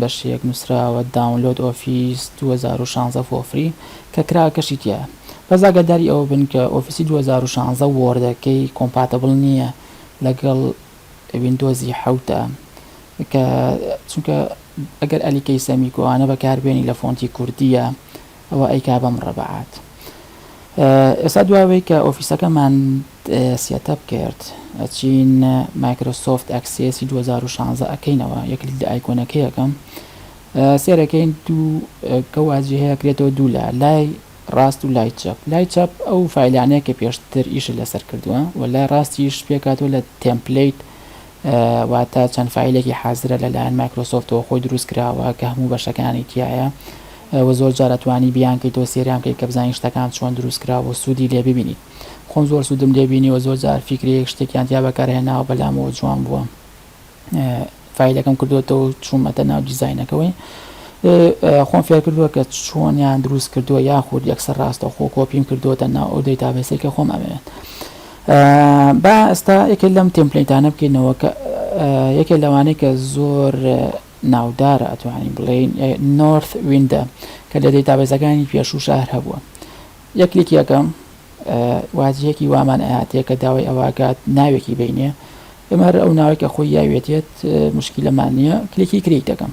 بەشێک نوسراوە داونلۆد ئۆفیس دوو هەزار و شازدە فۆ فری کە کراکەشی تیایە بەس ئاگاداری ئەوە بن کە ئۆفیسی دوو هەزار و شازدە وۆردەکەی کۆمپاتبل نیە لەگەڵ ویندۆزی حەوتە کە چونکە ئەگەر ئەلیکەی سەمیکۆ ئانە بەکاربێنی لە فۆنتی کوردیە ئەوە ئەیکا بە مڕەبەعات ئێستا دواوەی کە ئۆفیسەکەمان سێتەپ کرد ئەچین مایکرۆسۆفت ئەکسێسی 2016 ئەکەینەوە یەکلیک لە ئایکۆنەکەیەکەم سێرەکەین دوو گەوازی هەیە کرێتەوە دوو لە لای ڕاست و لای چەپ لای چەپ ئەو فیلانەیە کە پێشتر ئیش لەسەر کردووە و لای ڕاستیش پێکاتەوە لە تەمپلیت واتە چەند فایلێکی حازرە لە لایەن مایکرۆسۆفتەوە خۆی دروست کراوە کە هەموو بەشەکانی تیایە و زۆر جار ئەتوانی بیان کەیتەوە سێریان کەی کە بزانین شتەکان چۆن دروست کراوە و سوودی لێ ببینیت خۆم زۆر سوودم لێ بینیوە زۆر جار فیکرەیەک شتێکیان تیا بەکارهێناوە بەلامەوە جوان بووە فایلەکەم کردوێتەوە چوومەتە ناو دیزاینەکەوەی خۆم فێر کردووە کە چۆنیان دروست کردووە یاخود یەکسەر ڕاستەخۆ کۆپیم کردووەتە ناو ئەو دەیتابێسێکە خۆم ئەمەوێت با ئێستا یەکێک لەم تێمپلەیتانە بکەینەوە کە یەکێک لەوانەی کە زۆر ناودارە ئەتوانین بڵێین نۆرث ویندە کە لە دەیتابێزەکانی پێشوو شار هەبووە یەکلیک یەکەم واجهەیەکی وامان ئاهاتەیە کە داوای ئەواکات ناوێکی بینێ ئێمە هەر ئەو ناوێکە خۆی یاوێتێت مشکیلەمان نییە کلیکی کریک دەکەم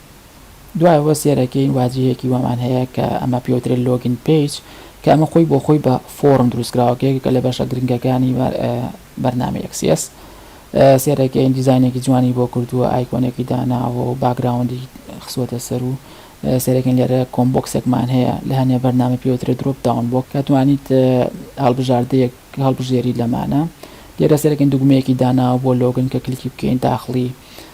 دوایەوە سێرەکەین واجهەیەکی وامان هەیە کە ئەمە پێی وترێت لۆگین پەیج کە ئەمە خۆی بۆ خۆی بە فۆڕم دروستکراوە کە یەکێکە لە بەشە گرنگەکانی بەرنامەی ئێکس ئێس سێرەکەین دیزاینێکی جوانی بۆ کردووە ئایکۆنێکی داناوە و باکگراوندی خسوەتە سەر و سێرەکەین لێرە کۆمبۆکسێکمان هەیە لە هەنێ بەرنامە پێی وترێت درۆپ داون بۆ کە توانیت هەڵبژاردەیەک هەڵبژێری لەمانە لێرە سێرەکەین دوگمەیەکی داناوە بۆ لۆگن کە کلیکی بکەین داخڵی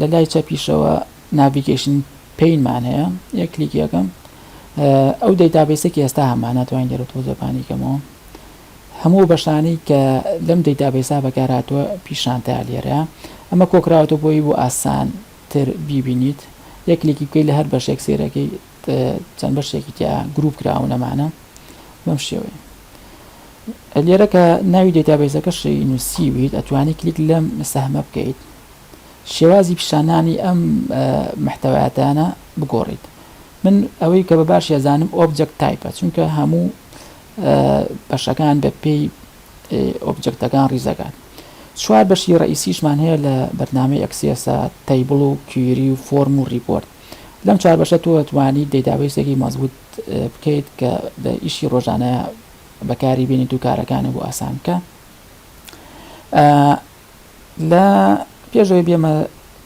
لە لای چەپیشەوە ناڤیگەیشن پین مان هەیە یەک کلیکی یەکەم ئەو دەیتابیسە کە ئێستا هەمان ناتوانین لێرە تۆزەپانی کەمەوە هەموو بەشانی کە لەم دەیتابیسا بەکارهاتوە پیشانتا لێرە ئەمە کۆکراوەتە بۆی بۆ ئاسان تر بیبینیت یەک کلیکی بکەیت لە هەر بەشێک سێرەکەی چەند بەشێکی تیا گروپ کراون ئەمانە بەم شێوەیە لێرە کە ناوی دەتابێزەکەشی نووسیویت ئەتوانی کلیک لەم سەهمە بکەیت شێوازی پیشانانی ئەم محتەواتانە بگۆڕیت من ئەوەی کە بە باش ێزانم ئۆبجەک تایپە چونکە هەموو بەشەکان بە پێی ئۆبجەکتەکان ڕیزەکان چوار بەشی ڕئیسیشمان هەیە لە بەرنمەی ئەکسیسا تەیبڵ و کیری و فۆرم و ریپۆرت لەم چوار بەشە تۆ توانیت دەیتابەیسێکی مەزبووت بکەیت کە لە ئیشی ڕۆژانە بەکاری بینیت و کارەکانە بۆ ئاسان بکە لە پێشەوەی بێمە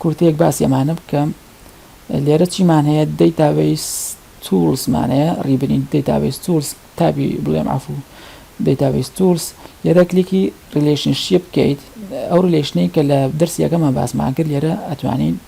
کورتەیەک باسی ئەمانە بکەم لێرە چیمان هەیە دەیتابەیس تولسمانەیە ڕیبرین دەیتابەیس تولس تابی بڵێم عفو دەیتابەیس تولس لێرە کلیکی ریلیشنشیە بکەیت ئەو ریلیشنەی کە لە دەرسی یەکەمان باسمان کرد لێرە ئەتوانین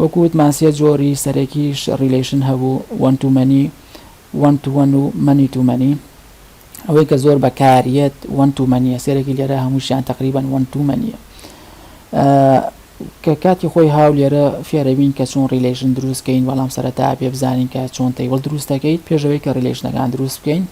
وەکو وتمان سێ جۆری سەرەکیش ڕیلەیشن هەبوو، وەن تو مەنی، وەن تو وەن و مەنی تو مەنی. ئەوەی کە زۆر بەکاریەت وەن تو مەنیە، سێرەکی لێرە هەمووشیان تەقریبەن وەن تو مەنیە. کە کاتی خۆی هاو لێرە فێرەبین کە چۆن ڕیلەیشن دروست کەین، بەڵام سەرەتا ئەبێ بزانین کە چۆن تەیبڵ دروست دەکەیت پێش ئەوەی کە ڕیلەیشنەکان دروست بکەین.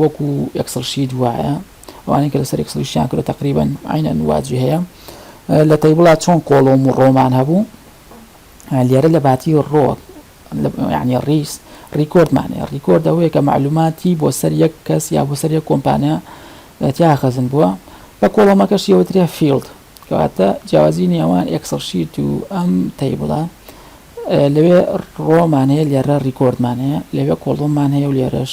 وەکو ئێکسڵ شیت وایە ئەوانەی کە لەسەر ئێکسڵی شتیان کردوە تەقریبەن عینەن وا جی هەیە لە تەیبڵا چۆن کۆڵۆم و ڕۆمان هەبوو لێرە لە باتی ڕۆک یعنی ڕیس ڕیکۆردمانەیە ڕیکۆرد ئەوەیە کە معلوماتی بۆ سەر یەک کەس یا بۆ سەر یەک کۆمپانیا تیا خەزن بووە بە کۆڵەمەکەش یەوەتریا فیلد کەواتە جیاوازی نێوان ئەکسڵ شیت و ئەم تەیبڵە لەوێ ڕۆمان هەیە لێرە ڕیکۆردمان هەیە لەوێ کۆڵۆممان هەیە و لێرەش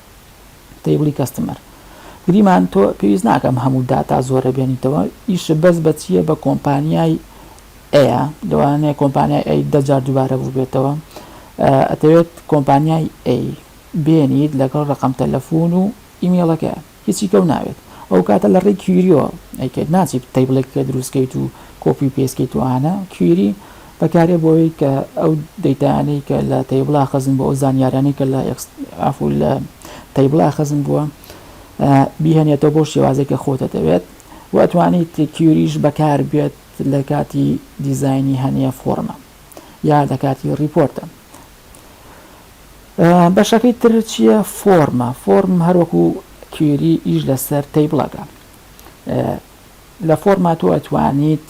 تەیبڵی کەستمەر گریمان تۆ پێویست ناکەم هەموو داتا زۆرە بێنیتەوە ئیش بەس بە چییە بە کۆمپانیای ئەیە لەوانەیە کۆمپانیای ئەی دەجار دووبارە بوو بێتەوە ئەتەوێت کۆمپانیای ئەی بێنیت لەگەڵ ڕقم تەلەفۆن و ئیمێڵەکە هیچی کەو ناوێت ئەو کاتە لە ڕێی کیریۆ ئەیکرد ناچیت تەیبڵێک کە دروستکەیت و کۆپی پێسکەیتوانە کیری بەکارێ بۆ ئەوەی کە ئەو دەیتایانەی کە لە تەیبڵا خەزن بووە، ئەو زانیاریانەی کە لە ئێکس عەفوو لە تەیبڵا خەزن بووە بیهێنێتەوە بەو شێوازەی کە خۆ دەتەوێت و ئەتوانیت کیوریش بەکار بێت لە کاتی دیزاینی هەنێ فۆڕمە یا لە کاتی ڕیپۆرتە. بەشەکەی تر چییە؟ فۆرمە فۆرم هەروەکو کیوری ئیش لەسەر تەیبڵەکە لە فۆرما تۆ ئەتوانیت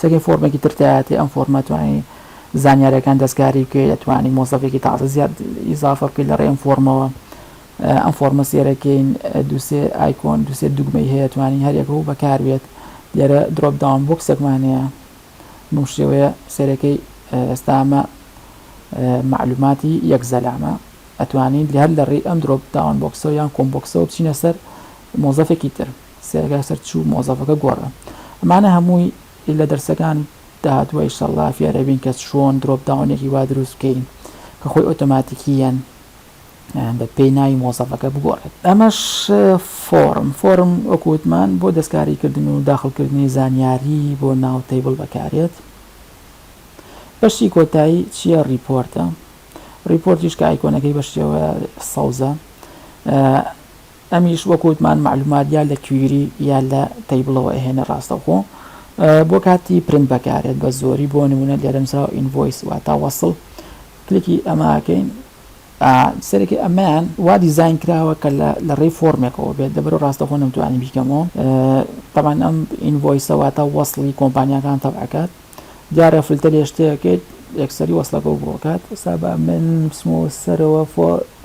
سەگەر فۆرمێکی تر تایەتی ئەم فۆرمە توانی زانیارەکان دەستکاری بکە دەتوانانی مۆزەفێکی تازە زیاد ئیزافە بکەیت لە ڕێم فۆرمەوە ئەم فۆرمە سێرەکەین دووسێ ئایکۆن دووسێ دوگمەی هەیە توانی هەرێکە و بەکاربێت لێرە درۆپ داوام بۆکسێکمانەیە بەم شێوەیە سێرەکەی ئێستامە معلوماتی یەک زەلامە ئەتوانین هەر لە ڕێی ئەم درۆپ داوان بۆکسەوە یان کۆمبۆکسەوە بچینە سەر مۆزەفێکی تر سەیرە کە سەر چوو مۆزەفەکە گۆڕە ئەمانە هەمووی لە دەرسەکان داهاتوە ئیشەڵا فێرە بین کە چۆن درۆپ داونێکی وا دروست بکەین کە خۆی ئۆتۆماتیکیەن بە پێی ناوی مۆزەفەکە بگۆڕێت ئەمەش فۆرم فۆرم وەکووتمان بۆ دەستکاریکردن و داخلکردنی زانیاری بۆ ناو تەیبل بەکارێت بەشی کۆتایی چییە ڕیپۆرتە ڕیپۆرتیش کە ئایکۆنەکەی بەشیەوە سەوزە ئەمیش وەک وتمان مەعلومات یا لە کویری یا لە تەیبڵەوە ئەهێنێ ڕاستەوخۆ بۆ کاتی پرنت بەکارێت بە زۆری بۆ نمونە لێرە نوسراوە ئینڤۆیس واتا وەسڵ کلیکی ئەمە ئەکەین سەرەکی ئەمەیان وا دیزین کراوە کە لە ڕێی فۆرمێکەوە بێت دەبەرو ڕاستەخۆ نەمتوانی بیکەمەوە تەمان ئەم ئینڤۆیسە واتا وەسڵی کۆمپانیاکان تەبعکات دیارە فلتەر لێ شتێکێت یەکسەری وەسڵەکە بۆکات سابا من بسمەوە سەرەوە فۆ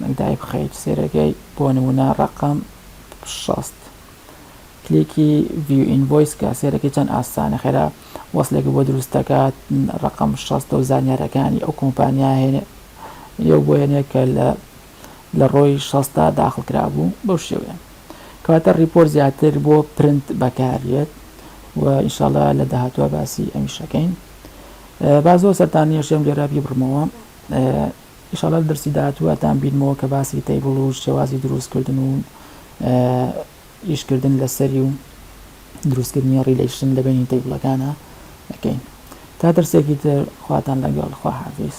من دایبخەیت سێرەگەی بۆ نمونە ڕەقەم شەست کلیکی ڤیو ئینڤۆیس کە سێرەکەی چەند ئاسانە خێرا وەصلێک بۆ دروست دەکات ڕەقەم شەست و زانیارەکانی ئەو کۆمپانیا هێنێ یو بۆ هێنێ کە لە لە ڕۆی شەستا داخڵ کرابوو بەو شێوەیە کەواتە ڕیپۆر زیاتر بۆ پرنت بەکاریێت و ئینشااللە لە داهاتوە باسی ئەمیشەکەین با زۆر سەرتان نیەشێم لێرا بیبڕمەوە ئیشاڵا لە دەرسی داهاتوواتان بینمەوە کە باسی تەیبڵ و شێوازی دروست کردن و ئیش کردن لە سەری و دروست کردنی ڕیلەیشن لە بینی تەیبڵەکانە ئەکەین تا دەرسێکی تر خواتان لەگەڵ خوا حافیز